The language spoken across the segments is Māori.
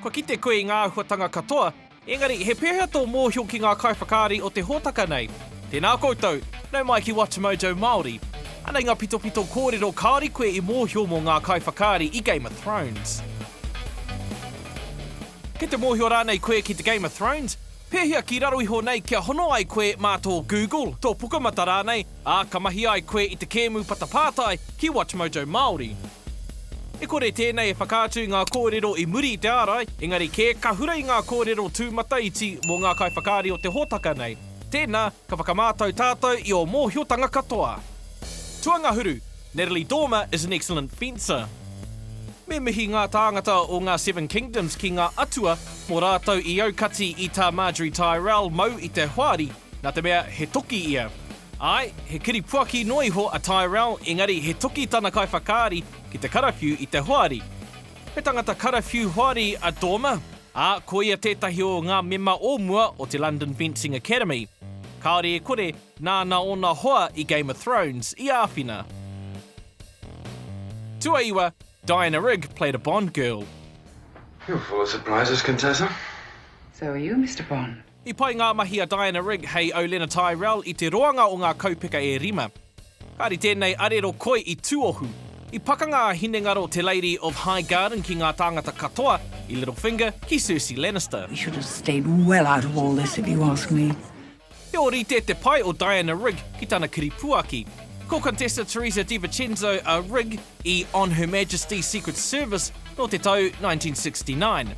Kua kite koe i ngā āhuatanga katoa, engari he pēhea tō mōhio ki ngā kaiwhakaari o te hōtaka nei? Tēnā koutou, nau mai ki WatchMojo Māori. Anei ngā pitopito kōrero kāore koe i mōhio mō ngā kaiwhakaari i Game of Thrones. Kei te mōhio rānei koe ki te Game of Thrones? Pēhea ki raro iho nei kia hono ai koe mā tō Google, tō Pukamata rānei? Ā, ka mahi ai koe i te kēmu patapātai ki WatchMojo Māori. E kore tēnei e whakaatu i ngā kōrero i muri i te ārai, engari kē, ka hura i ngā kōrero tūmataiti mō ngā kaiwhakaari o te hōtaka nei. Tēnā, ka whakamātau tātou i ō mōhiotanga katoa. Tuangahuru, Natalie Dormer is an excellent fencer. Me mihi ngā tāngata o ngā Seven Kingdoms ki ngā atua mō rātou i aukati i tā Marjorie Tyrell mau i te hoari, Nā te mea he toki ia. Āe, he kiri puaki noa iho a Tyrell, engari he toki tana kaiwhakaari ki te karawhiu i te hoari. He tangata karawhiu hoari a Dormer, ā, ko ia tētahi o ngā mema o mua o te London Fencing Academy. Kāore e kore, nāna ōna hoa i Game of Thrones i āwhina. Tuaiwa, Diana Rigg played a Bond girl. You're full of surprises, Contessa. So are you, Mister Bond. I pai ngā mahi a Diana Rigg hei Olena Tyrell i te roanga o ngā kaupeka e rima. Kāre tēnei arero koi i tuohu. I pakanga a hinengaro te Lady of Highgarden ki ngā tāngata katoa, i Littlefinger, ki Cersei Lannister. He should have stayed well out of all this if you ask me. He ōrite te pai o Diana Rigg ki tana kiripuaki. Ko Contessa Teresa DiVicenzo a Rigg, i On Her Majesty's Secret Service nō te tau 1969.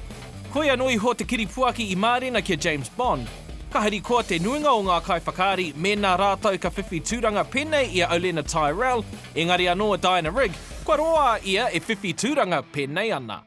Koia noa iho te kiripuaki i mārena ki a James Bond. Ka harikoa te nuinga o ngā kaiwhakaari mēnā rātou ka whiwhi tūranga pēnei i a Olenna Tyrell, engari anō a Diana Rigg, kua roa a ia e whiwhi tūranga pēnei ana.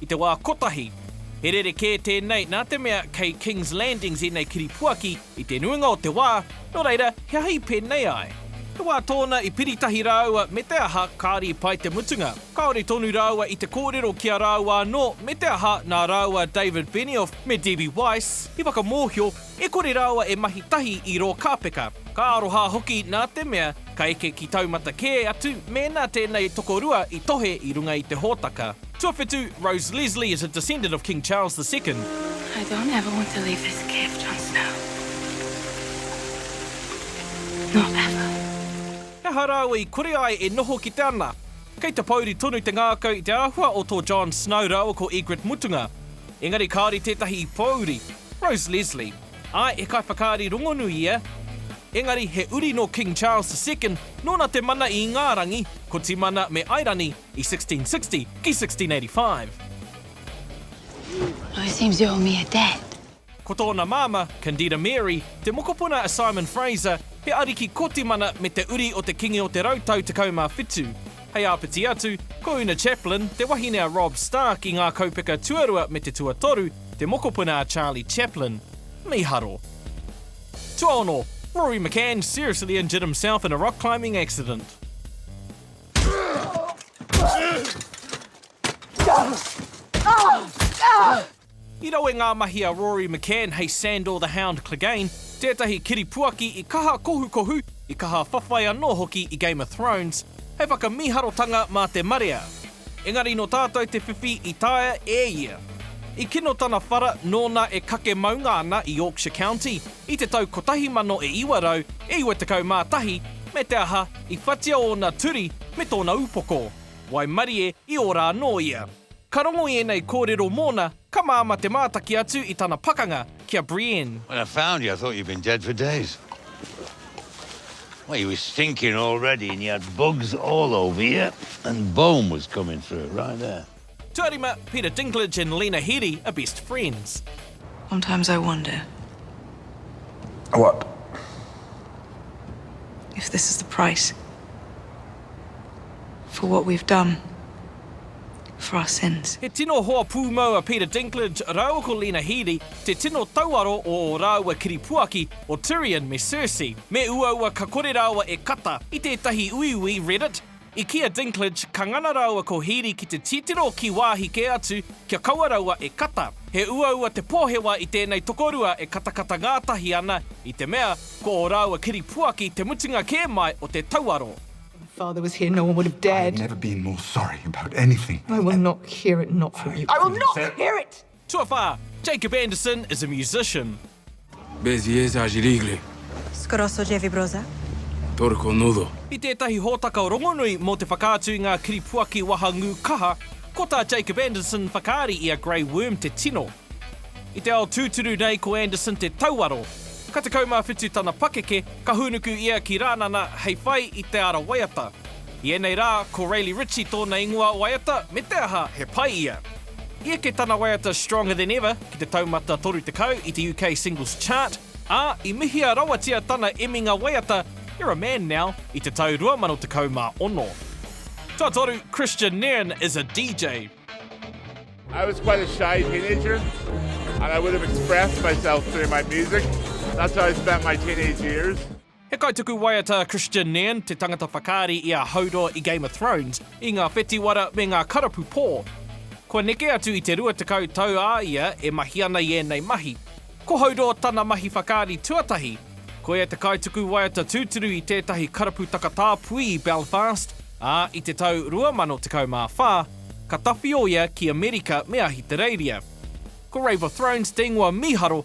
I te wā kotahi, he rerekē tēnei nā te mea kei Kings Landings ēnei kiripuaki i te nuinga o te wā, nō reira, he aha i pēnei ai? He wā tōna i piri tahi rāua me te aha kāre i pai te mutunga, kāore tonu rāua i te kōrero ki a rāua anō me te aha nā rāua David Benioff me Debbie Weiss i whakamōhio e kore rāua e mahi tahi i rō kāpeka, ka aroha hoki nā te mea ka eke ki taumata kē atu mēnā tēnei tokorua i tohe i runga i te hōtaka. Tuawhitu, Rose Leslie is a descendant of King Charles the Second. I don't ever want to leave this cave, Jon Snow. Not ever. He aha rāua i kore ai e noho ki te ana? Kei te pōuri tonu te ngākau i te āhua o tō Jon Snow rāua ko Ygritte mutunga. Engari kāore tētahi i pōuri. Rose Leslie. Āe, he kaiwhakaari rongonui ia. Engari, he uri nō King Charles the Second, nōna te mana i ngā rangi, ko Timana me Airani, I 1660 ki 1685. Well, it seems you owe me a dad. Ko tōna māmā, Candida Mary, te mokopuna a Simon Fraser, he ariki kotimana me te uri o te Kingi o te Rau Tau Tekau mā Whitu. Hei āpiti atu, ko Una Chaplin, te wahine a Robb Stark i ngā kaupeka tuarua me te tuatoru, te mokopuna a Charlie Chaplin. Mīharo. Tuaono, Rory McCann seriously injured himself in a rock climbing accident. I rawe ngā mahi a Rory McCann hei Sandor the Hound Clegane, tētahi kiripuaki i kaha kohukohu, i kaha whawhai anō hoki i Game of Thrones, hei whakamīharotanga mā te marea. Engari nō tātou te whiwhi i taea e ia. I kino tana whara nōna e kake maunga ana i Yorkshire County, I te tau kotahi mano e iwa rau, e iwa tekau mā tahi, me te aha, i whatia ōna turi me tōna upoko. Waimarie, i ora anō ia. Ka rongo i ēnei kōrero mōna, ka māmā te mātaki atu i tana pakanga ki a Brienne. When I found you, I thought you'd been dead for days. Well, you were stinking already and you had bugs all over you and bone was coming through, right there. Tuarima, Peter Dinklage and Lena Headey are best friends. Sometimes I wonder. What? If this is the price. For what we've done. For our sins. He tino hoa pūmau a Peter Dinklage rāua ko Lena Headey, te tino tauaro o ō rāua kiripuaki, o Tyrion me Cersei. Me uaua ka kore rāua e kata, i tētahi uiui Reddit, I kī a Dinklage, ka ngana rāua ko Headey ki te titiro ki wāhi kē atu kia kaua raua e kata. He uaua te pōhewa i tēnei tokorua e katakata ngātahi ana, i te mea, ko ō rāua kiripuaki te mutunga kē mai o te tauaro. Tuawhā, Jacob Anderson is a musician. Bezieza Jirigle. Skoroso Jevibroza. Torko Nudo. I tētahi hōtaka rongonui mō te whakaatu i ngā kiripuaki wahangū kaha, ko tā Jacob Anderson whakaari i a Grey Worm te tino. I te ao tūturu nei ko Anderson te tauaro. Ka 17 tana pakeke, ka hūnuku ia ki Rānana hei whai i te ara waiata. I ēnei rā, ko Rayleigh Ritchie tōna ingoa waiata, me te aha, he pai ia. I eke tana waiata Stronger Than Ever ki te taumata 30 i te UK Singles Chart, ā, i mihia rawatia tana eminga waiata You're a Man Now i te tau 2016. Tuatoru, Christian Nairn is a DJ. I was quite a shy teenager and I would have expressed myself through my music, that's how I spent my teenage years. He kaituku waiata a Kristian Nairn, te tangata whakaari i a Hodor i Game of Thrones, i ngā whetiwara me ngā karapu pō. Kua neke atu i te 20 tau a ia e mahi ana i ēnei mahi. Ko Hodor tana mahi whakaari tuatahi. Ko ia te kaituku waiata tūturu i tētahi karapu takatāpui i Belfast, ā, i te tau 2014, ka tawhio ia ki Amerika me Ahitereiria. Ko Rave of Thrones te ingoa mīharo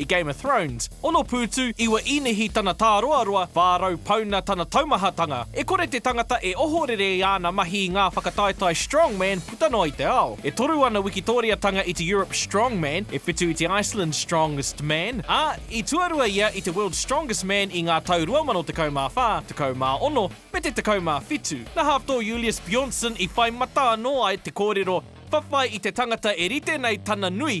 I Game of Thrones, ono pūtu, iwa īnihi tana tāroaroa, 400 pauna tana taumahatanga. E kore te tangata e ohorere i āna mahi i ngā whakataetae strongman puta noa i te ao. E toru ana Wikitōriatanga i te Europe Strongman, e whitu i te Iceland Strongest Man, ā, i tuarua ia i te World's Strongest Man i ngā tau 2014, 16, me te 17. Nā Hafthor Julius Bjornsson i whai mata anō ai te kōrero, whawhai i te tangata e rite nei tana nui,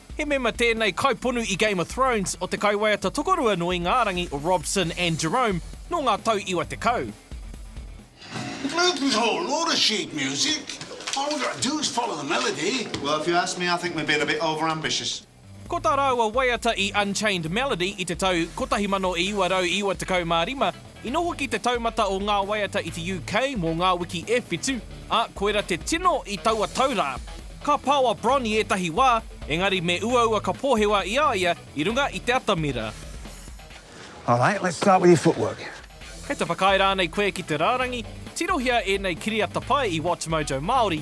He mema tēnei kaiponu i Game of Thrones o te kaiwaiata tokorua nō Ingārangi, Robson and Jerome, nō ngā tau iwa tekau. Ko tā rāua waiata i Unchained Melody i te tau 1995, I noho ki te taumata o ngā waiata i te UK mō ngā wiki e whitu, ā, koirā te tino i taua tau rā. Ka pao a Bron i ētahi wā, engari me uaua ka pōhewa i a ia i runga i te atamira. Alright, let's start with your footwork. Kei te whakaae rānei koe ki te rārangi? Tirohia ēnei kiriata pai i WatchMojo Māori.